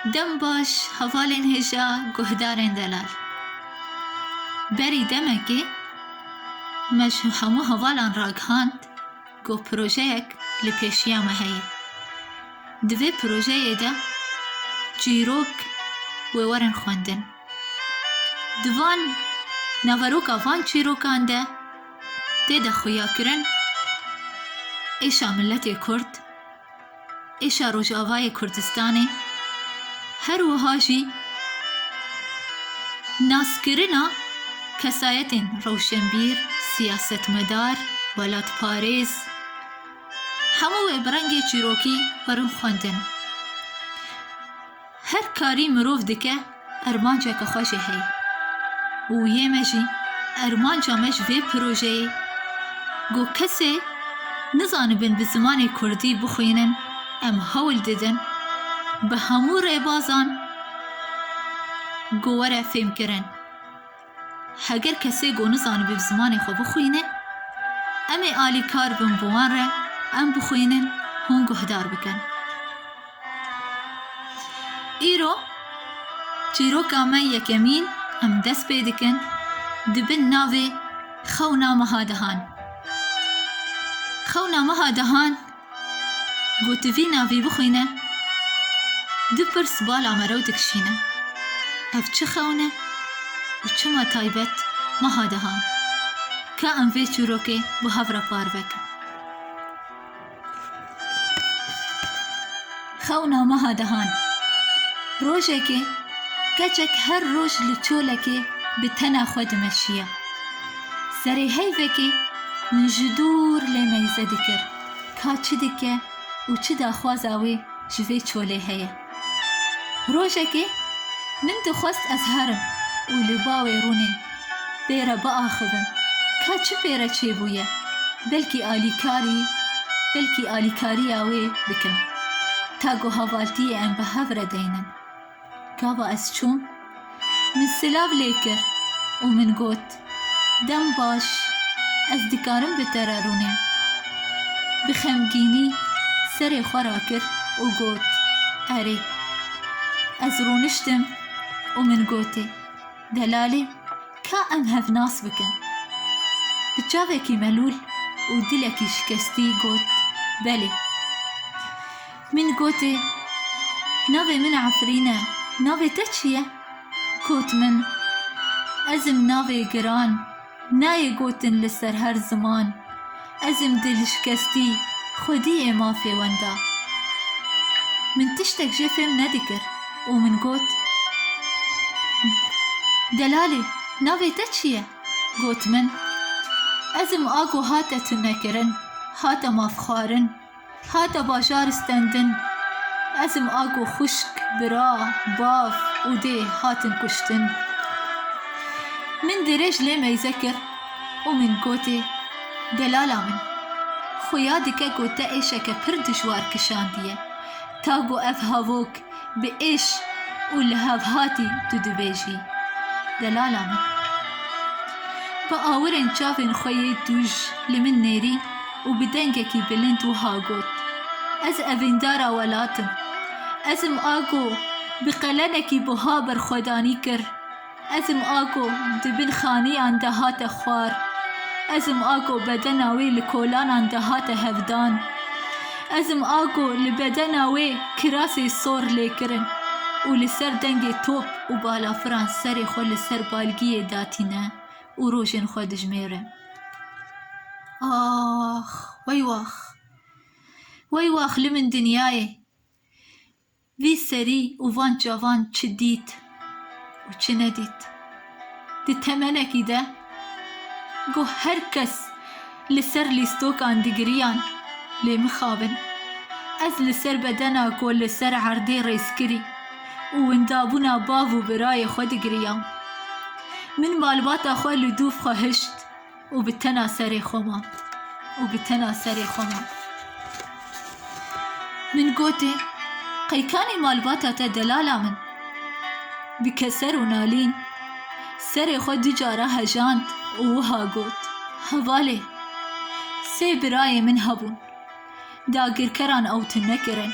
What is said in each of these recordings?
Dem baş hevalên hêja guhdarên delal. Berî demekê me ji hemû hevalan ragihand ku projeyek li pêşiya me heye. Di vê projeyê de çîrok wê werin xwendin. Di van naveroka van çîrokan de tê de xuyakirin êşa miletê Kurd, Êşa Rojavayê Kurdistanê her wiha jî naskirina kesayetên rewşenbîr, siyasetmedar, welatparêz hemû wê bi rengê çîrokî werin xwendin. Her karî mirov dike armanceke xwe jî heye û yê me jî armanca me ji vê projeyê ku kesê nizanibin bi zimanê kurdî bixwînin em hewl didin bi hemû rêbazan ku were fêmkirin. Heger kesê ku nizanibe bi zimanê xwe bixwîne, em ê alîkar bin bi wan re em bixwînin hûn guhdar bikin. Îro çîroka me yekemîn em dest pê dikin di bin navê Xewna Meha Dehan. Xewna Meha Dehan Gotivîna vî bixwîne, du pirs bala me rew dikişîne, Ev çi xewn e û çima taybet meha dihan? Ka em vê çîrokê bi hev re parve kin? Xewna meha dehan. Rojekê keçek her roj li çolekê bi tena xwe dimeşiya. Serê heyvekê min ji dûr lê meyze dikir ka çi dike û çi daxwaza wê ji vê çolê heye. Rojekê min dixwest ez herim û li bawê rûnê Pê re biaxivin ka çi pê re çêbûye, belkî alîkarî belkî alîkariya wê bikin. Ta ku havaltiyê em bi hev re deynin. Gava ez çûm, min silav lê kir û min got, Dem baş, ez dikarim bi te re rûnim. Bi xemgînî serê xwe rakir û got, Erê. Ez rûniştim û min gotê. Delalî ka em hev nas bikin. Bi çavekî melûl û dilekî şikestî got, Belê. Min gotê, Navê min Efrîn e, navê te çi ye? Got min, Ez im navê Giran. Nayê gotin li ser her ziman. Ez im dilişkestî xwedî yê mafê wenda. Min tiştek jê fêm nedikir û min got, Delalê, navê te çi ye? Got min, Ez im a ku hate tunekirin, hate mafxwarin. Hate bajar stendin. Ezim a ku xwişk, bira, bav û dê hatin kuştin. Min dirêj lê meyze kir û min gotê, Delala min, xuya dike ku te êşeke pir dijwar kişandiye. Ta ku ev havok bi êş û li hevhatî tu dibêjî, Delala min. Bi awirên çavên xwe yê tu li min nêrî û bi dengekî bilind wiha got, Ez evîndara welat im. Ez im a ku bi qelenekî buha berxwedanî kir. Ezim Ago di bin xaniyan de hate xwar. Ezim Ago bedena wê li kolanan de hate hevdan. Ezim Ago li bedena wê kirasê sor lê kirin û li ser dengê top û balafiran serê xwe li ser balgiyê datîne û rojên xwe dijmêre. Ax! Wey wax! Wey wax li min dinyayê! Vî serî û van çavan çi dît û çi nedît. Di temenekî de ku her kes li ser lîstokan digiriyan lê mixabin. Ez li ser bedena ku li ser erdê rêzkirî û windabûna bav û birayê xwe digiriyam. Min malbata xwe li dû xwe hişt. Û bi tena serê xwe man. Û bi tena serê xwe man. Min gotê, Qeykanî malbata te delala min. Bi keser û nalîn serê xwe du cara hejand û wiha got, Hevalê, sê birayê min hebûn. dagirkeran ew tune nekirin.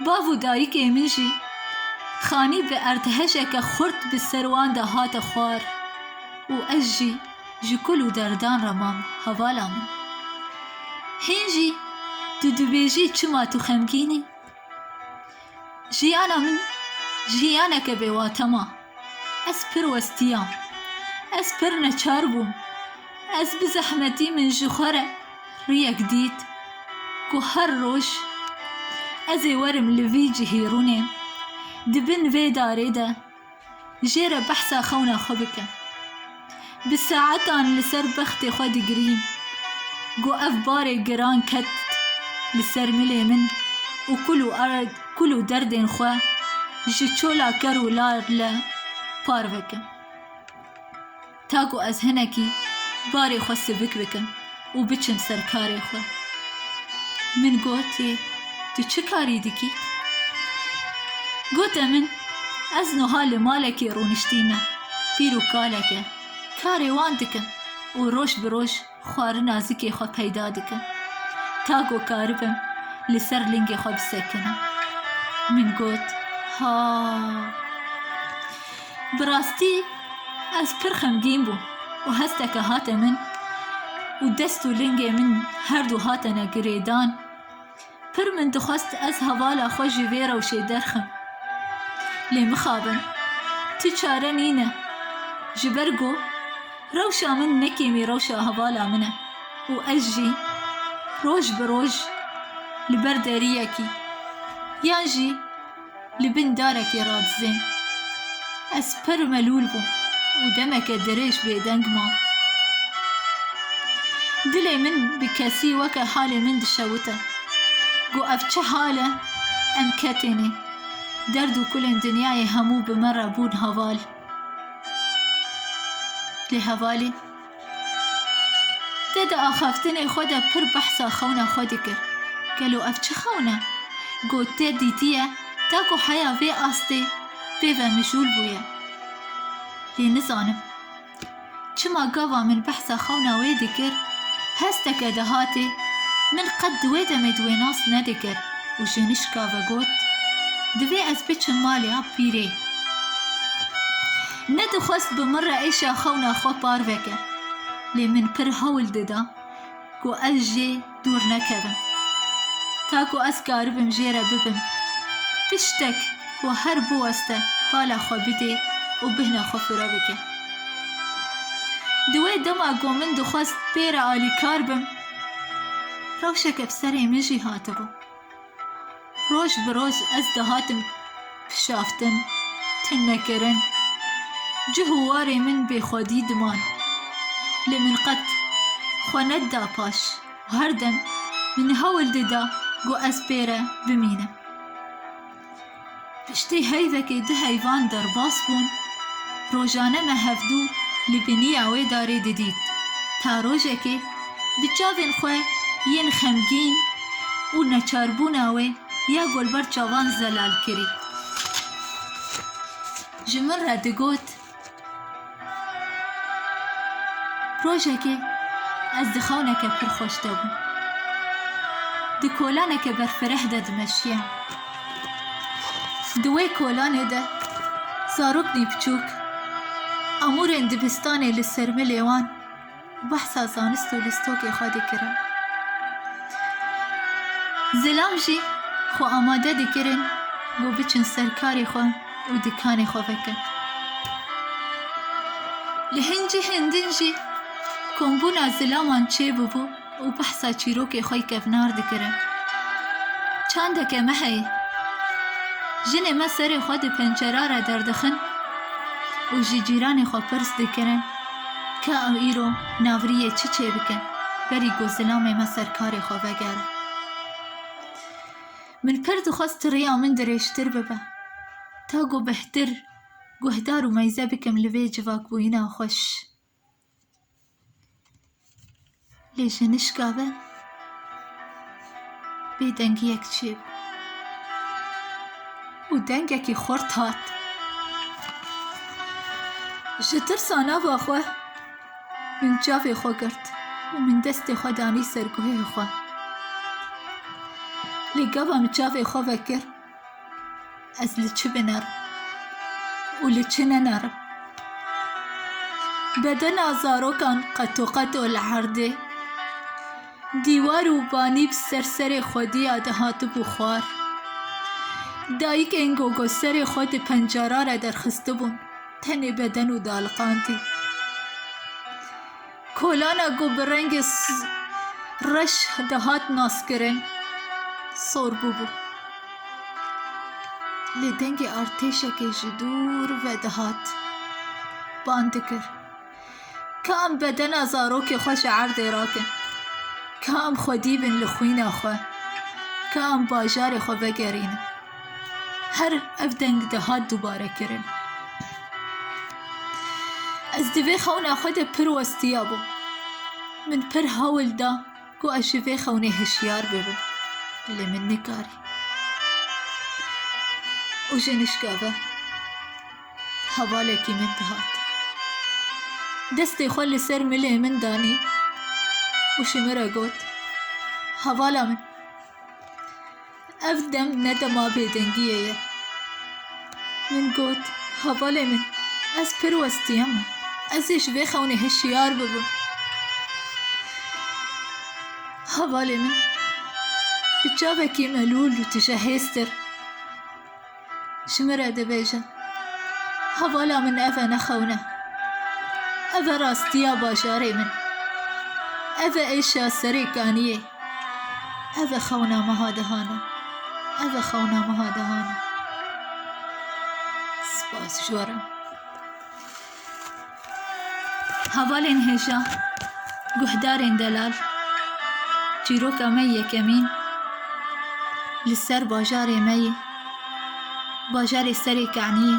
Bav û dayikê min jî xanî bi erdhejeke xurt bi ser wan de hate xwar û ez jî ji kul û derdan re mam hevala min. Hîn jî tu dibêjî çima tu xemgîn î? Jiyana min jiyaneke bêwate ma. Ez pir westiyam. Ez pir neçar bûm. Ez bi zehmetî min ji xwe re riyek dît ku her roj ez ê werim li vî cihî rûnên di bin vê darê de Jê re behsa xewna xwe bikin. Bi saetan li ser bextê xwe digirîm. Got ev barê giran ket li ser milê min û kul û erd, kul û derdên xwe ji çola ker û lar le par vekim. ta ku ez hinekî barê xwe sivik bikim û biçim ser karê xwe. Min gotê tu çi karî dikî? Gote min ez nuha li malekê rûniştîme pîr û kaleke karê wan dikim û roj bi roj Xwarina zikê xwe peyda dikim. Ta ku karibim li ser lingê xwe bisekinim. Min got, Ha! Bi rastî ez pir xemgîn bûm û hesteke hate min û dest û lingê min her du hatene girêdan. Pir min dixwest ez hevala xwe ji vê rewşê derxim. Lê mixabin. Tu çare nîne. Ji ber ku rewşa min ne kêmî rewşa hevala min e û ez jî roj bi roj li ber deriyekî yan jî li bin darekê radizên. Ez per û melûl bûm û demeke dirêj bêdeng mam. Dilê min bi kesî weke halê min dişewite. Got ev çi hal e? Em ketênê. Derd û kulên dinyayê hemû bi me re bûn heval. Lê hevalî. Te di axaftinê xwe de pir behsa xewna xwe dikir. Gelo ev çi xewn e? Got te dîtiye ta ku heya vê astê pêve mijûl bûye. Lê nizanim çima gava min behsa xewna wê dikir hesteke dihatê min qet di wê demê di wê nas nedikir û ji nişka ve got, Divê ez biçim malê a pîrê. Nedixwest bi min re êşa xewna xwe par veke, lê min pir hewl dida ku ez jê dûr nekevim. Ta ku ez karibim jê re bibim, tiştek ku her biweste pala xwe bidê û bihna xwe fire bike. Di wê dema ku min dixwest pê re alîkar bim, rewşeke bi serê min jî hatibû. Roj bi roj ez dihatim kişaftin, tinnekirin, cih û warê min bêxwedî diman. Lê min qet xwe nedida paş û her dem min hewl dida ku ez pê re bimînim. Piştî heyvekê du heyvan derbas bûn, rojane me hevdu li biniya wê darê didît. Ta rojekê bi çavên xwe yên xemgîn û neçarbûna wê ya golber çavan zelal kirî. Ji min re digot. Rojekê ez di xewneke pir xweş de bûm. Di kolaneke berfireh de dimeşiyam. Di wê kolanê de zaroknî biçûk amûrên dibistanê li sermilê wan Behsa zanist û lîstokê xwe dikirin. Zilam jî xwe amade dikirin ku biçin ser karê xwe û dikanê xwe veke. Li hin cihên din jî kombûna zilaman çêbûbû û behsa çîrokê xwe kevnar dikirin. Çandeke me heye. Jinê me serê xwe di pencera re derdixin û ji cîranê xwe pirs dikirin. Ka ew îro navriyê çi çêbike, berî ku zilamê me ser karê xwe vegere. Min pir dixwest tiriya min dirêjtir bibe, ta ku bihtir guhdar û meyze bikim li vê civakbûyina xweş. Lê ji nişka ve bêdengiyek çêbû û dengekî xurt hat. Ji tirsa nava xwe min çavê xwe girt û min destê xwe danî ser guhê xwe. Lê gava min çavê xwe vekir, Ez li çi biner û li çi niner im? Bedena zarokan qetoqeto li erdê, dîwar û banî bi ser serê xwedî ya dihatibû xwar. Dayikên gogoserê xwe di pencara re derxistibûn, tenê beden û daliqandî. Kolana ku bi rengê reş dihat naskirin sor bûbû. Lê dengê artêşekê ji dûr ve dihat bang dikir. Ka em bedena zarokê xwe ji erdê rakin, ka em xwedî bin li xwîna xwe, ka em bajarê xwe vegerînin. Her ev deng dihat dûbarekirin. Ez di vê xewna xwe de pir westiya bûm. Min pir hewl da ku ez ji vê xewnê hişyar bibim. Lê min nekarî. Û ji nişka ve hevalekî min dihat. Destê xwe li ser milê min danî û ji min re got, Hevala min. Ev dem ne dema bêdengiyê ye. Min got, Hevalê min, ez pir westiyeme. Ez ê ji vê xewnê hişyar bibim. Hevalê min bi çavekî melûl û tije hêstir. ji min re dibêjin hevala min ev e nexewne. Ev e rastiya bajarê min. Ev e êşa serê kaniyê. Ev e xewna meha dihana. Ev e xewna meha dihana. Spas ji we re. Hevalên hêja, guhdarên delal, çîroka me yekemîn li ser bajarê me yê, bajarê Serê Keniyê.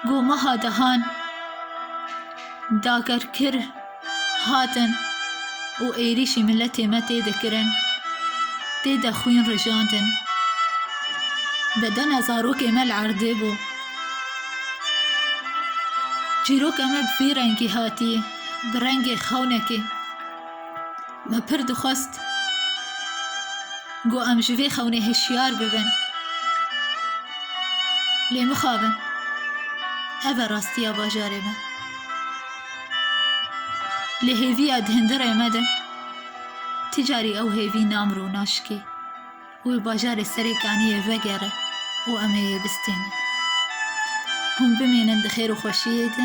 Gomeha dehan dagerkir. hatin û êrîşî miletê me tê de kirin, tê de xwîn rijandin. Bedena zarokê me li erdê bû. Çîroka me bi vî rengî hatiye, bi rengê xewnekê. Me pir dixwest ku em ji vê xewnê hişyar bibin. Lê mixabin. Ev e rastiya bajarê me. Li hêviya di hindirê me de ti carî ew hêvî namir û naşikê û li bajarê serê kaniyê vegere û em ê yê bistînin. Hûn bimînin di xêr û xweşiyê de.